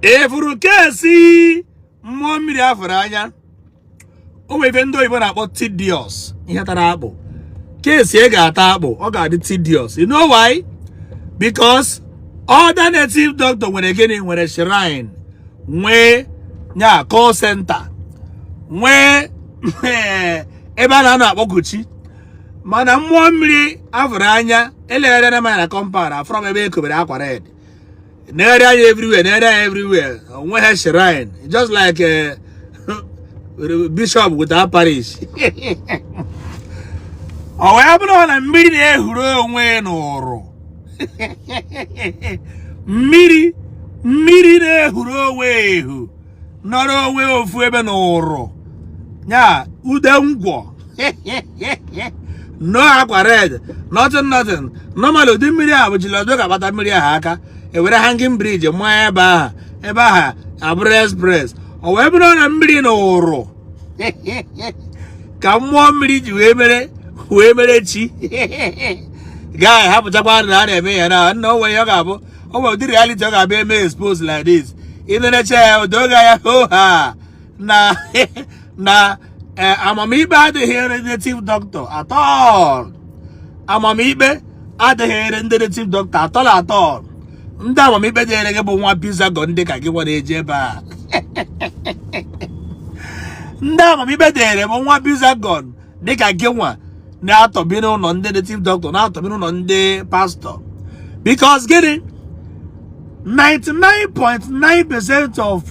ị fụrụ kesi mmụọ mmiri afụrụ anya o nwere ife ndị oyibo na-akpọ tedious ihe tara akpụ kesi e ga-ata akpụ ọ ga-adị tedious you know why because other native doctor nwere gịnị nwere shrine nwee nya call center nwee ebe a na-anọ akpọku chi mana mmụọ mmiri afụrụ anya elegharịna m anya na compound afụrọ m ebe e kobere akwa red nere anya everywhere nere anya everywhere o nweghị shrine just like eh, bishop without parish ọ wee bụrụ na mmiri na-ehuru onwe n'ụrụ mmiri mmiri na-ehuru onwe ehu nọrọ onwe ofu ebe na ụrụ ya ude ngwọ no akwa red nothing nothing normal ụdị mmiri a bụ Soludo ga-agbata mmiri ahụ aka ewere hanging bridge maa ebe ahụ ebe ahụ abụrụ express o wee bụrụ na mmiri na ụrụ ka mmụọ mmiri ji wee mere wee mere chi guy hapụchakwa na a na-eme ya na nna onwe ya ọ ga-abụ ọ bụ ụdị reality ọ ga-abịa eme expose like this ị nenechaa ya o doo gị anya hoo haa na na eh, amamikpe adịghịrị native doctor at all amamikpe adịghịrị ndị native doctor at all at all ndị amamikpe dịrị bụ nwa bizagon dịka gị nwa na-eje ebe a ndị amamikpe dịrị bụ nwa bizagon dịka gị nwa na-atọbi n'ụlọ ndị native doctor na-atọbi n'ụlọ ndị pastor because gịnị 99.9% of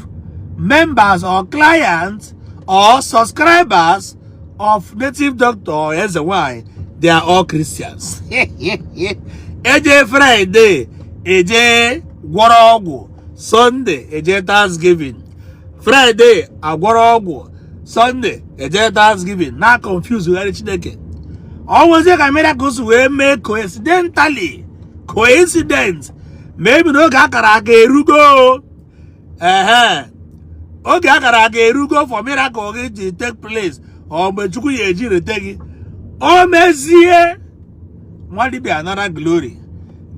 members or clients or subscribers of native doctor or eze nwanyị they are all Christians eje Friday eje gwọrọ ọgwụ Sunday eje Thanksgiving Friday agwọrọ ọgwụ Sunday eje Thanksgiving na confuse gharị Chineke o nwezie ka miracle si wee mee coincidentally coincident maybe na oge akara aka erugo ehe oge akara aka erugo for miracle gị ji take place or mgbe Chukwu ya eji rete gị o mezie nwa dibia anara glory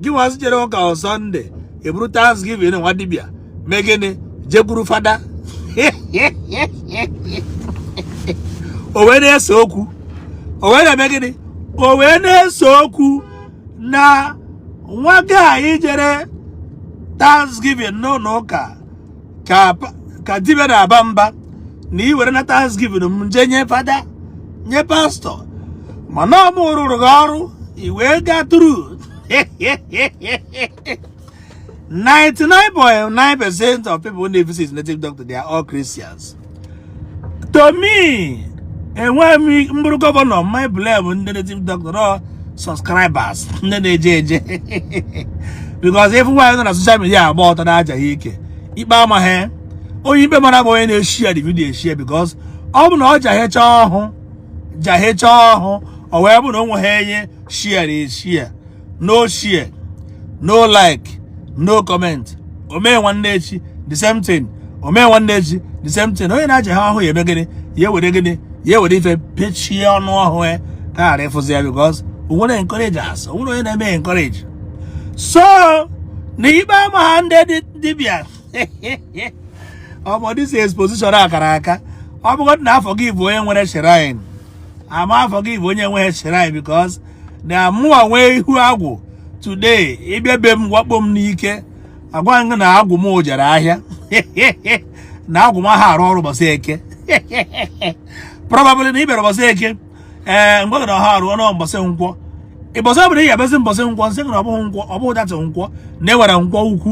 gị nwa jere ụka on Sunday eburu thanksgiving nwa dibia mee gịnị jekwuru fada o wee na-ese okwu o wee na-eme gịnị o wee na-ese okwu na nwa guy anyị jere thanksgiving n'ụlọ ụka ka dibịa na-aba mba na i werena thanksgiving m jee nye fada nye pastọ mana ọ mụ rụrụ gị ọrụ i wee gaa through 99.9% of people who visit native doctor they are all Christians to me enweghị m bụrụ governor m ya blame ndị native doctor ọ subscribers ndị na-eje eje because ị fụ nwaanyị nọ na social media agba ọtọ na-ajaha ike ikpe amaghị onye ikpe mara bụ onye na-eshare the video eshare because ọ bụ na ọ jahecha ọhụ jahecha ọhụ ọ wee bụ na o nweghị onye sharera eshare no share no like no comment o mee nwanne echi the same thing o mee nwanne echi the same thing onye na-ajaha ọhụ ya eme gịnị ya ewere gịnị ya ewere ife pechie ọnụ ọhụ ya ka a ghara ịfụzi ya because o nwere encourage as o nwere onye na-eme encourage so na ikpe amaha ndị dibịa ọmọ this exposition akara aka ọ bụgodị na a forgive onye nwere shrine a ma forgive onye nweghị shrine because na mụwa nwee ihu agwụ today ị bịa be m wakpo m n'ike agwa gị na agwụ m jere ahịa na agwụ m aha arụ ọrụ ụbọchị eke probably na ị bịara ụbọchị eke ee eh, m gwa gị na ha arụ ọrụ mbọsị nkwọ ụbọsị ọ bụla ị ga-abịazi mbọsị nkwọ m sị na ọ bụghị nkwọ ọ bụghị that nkwọ na e nwere nkwọ ukwu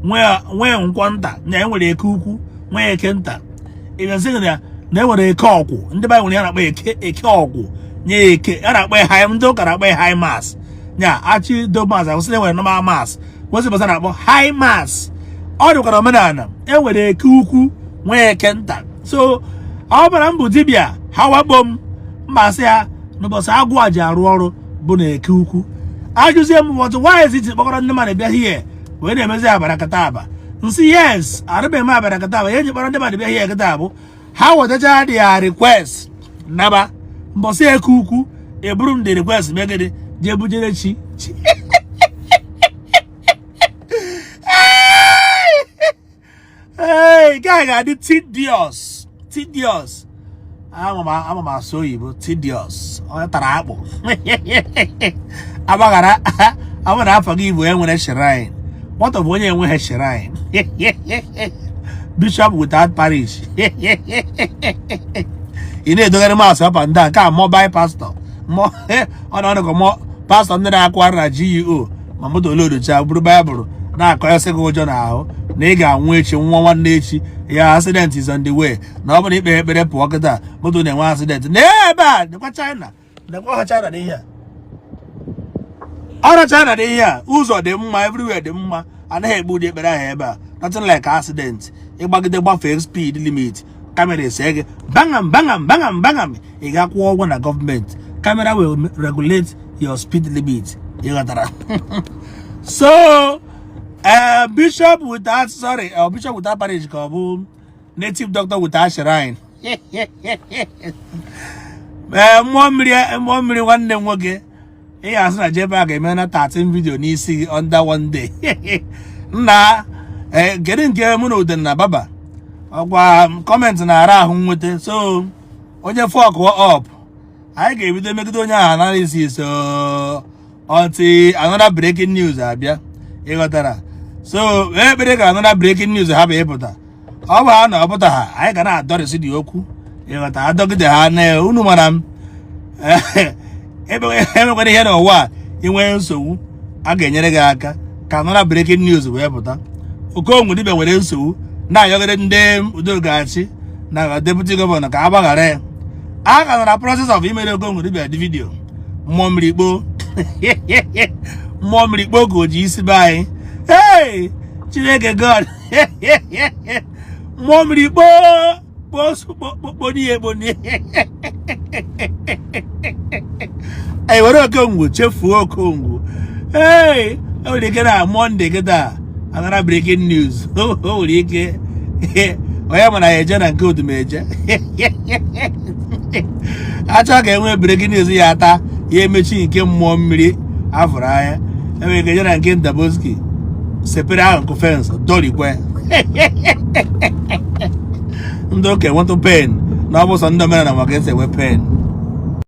nwee nkwọ nta na e nwere eke ukwu nwee eke nta ịbịazighị na ya na e nwere eke ọgwụ ndị be nwere ya na-akpọ eke eke ọgwụ nye eke a na-akpọ ya high ndị ụka na-akpọ ya high mass ya achị do mass akwụsị na e nwere normal mass kwesịrị basa na-akpọ high mass ọ dịkwa n'omenala e nwere eke ukwu nwee eke nta so ọ bụrụ m bụ dibịa ha wakpo m m asị ya na ụbọchị agwụ a ji arụ ọrụ bụ na eke ukwu ajụzie m why i jizi kpọkọrọ ndị mmadụ bịa here wee na-emezi abarakataba m sị yes arị m eme abarakataba ya e ji kpọrọ ndị mmadụ bịa here kịta bụ ha wetacha their request naba mbọsị eke ukwu eburu m the request megide jee bujere chi chi ee nke a ga-adị tedious tedious ama m asụ oyibo tedious onye tara akpụ agbaghara a bụ na a forgive onye nwere shrine what of onye enweghị shrine bishop without parish ị na-edogharị mass up and down ka mobile pastor ee ọ na ọnụgụ mọ pastọ ndị na-akụ ara na GUO e ma moto o loduchaa buru baịbụl na-akọ ese gị ụjọ n'ahụ na ị ga-anwụ echi nwa nwanne echi ya accident is on the way na ọ bụrụ na ikpero ekpere pụọ kịta moto na-enwe accident na ebe a dịkwa China dịkwa ha China n'ihe a ọrụ China dị ihe a ụzọ dị mma everywhere dị mma anaghị ekpe ụdị ekpere ahụ ebe a nothing like accident ịgbagide gbafee speed limit camera ese gị bangam bangam bangam bangam ị ga-akwụ ụgwọ na gọọmenti camera will regulate your speed limit ịghọtara so eh, bishop without sorry eh, bishop without parish ka ọ bụ native doctor without shrine ee eh, mmụọ mmiri nwanne m nwoke ihe asị na jebe a ga-eme na 13 video n'isi gị under one day nna eh, kedu nke mụ na uden na baba ọkwa comment na-ara ahụ nweta so onye fuck up anyị ga-ebido megide onye ahụ analysis until another breaking news abịa ịghọtara so ekpere ka another breaking news ha bụ ịpụta ọ bụ ha na ọ pụta ha anyị ga na-adọrịsị the okwu ịghọta adọgide ha na unu mara m emekwara ihe n'ụwa a inwere nsogbu a ga-enyere gị aka ka another breaking news wee pụta Okongwu dibia nwere nsogbu na-ayọgide ndị udogachi na deputy governor ka a gbaghara ya a ka nọ na process of imere Okongwu dibia the video mmụọ mmiri kpoo mmụọ mmiri kpoo ka o ji isi be anyị hey chineke god mmụọ mmiri kpoo kpokponiye ekponiye anyị were okongwu chefuo okongwu ee o nwere ike na Monday kịta another breaking news o nwere ike onye mana ya eje na nke Odumeje achọ ka enwee breaking news ya ata ya emechi nke mmụọ mmiri afụrụ anya enwere ike jena nke Indaboski sepere ahụ nkụ fensị dorikwe ndị ụka enwetụ pain na ọ bụ sọ ndị omenala ma ka esi enwe pain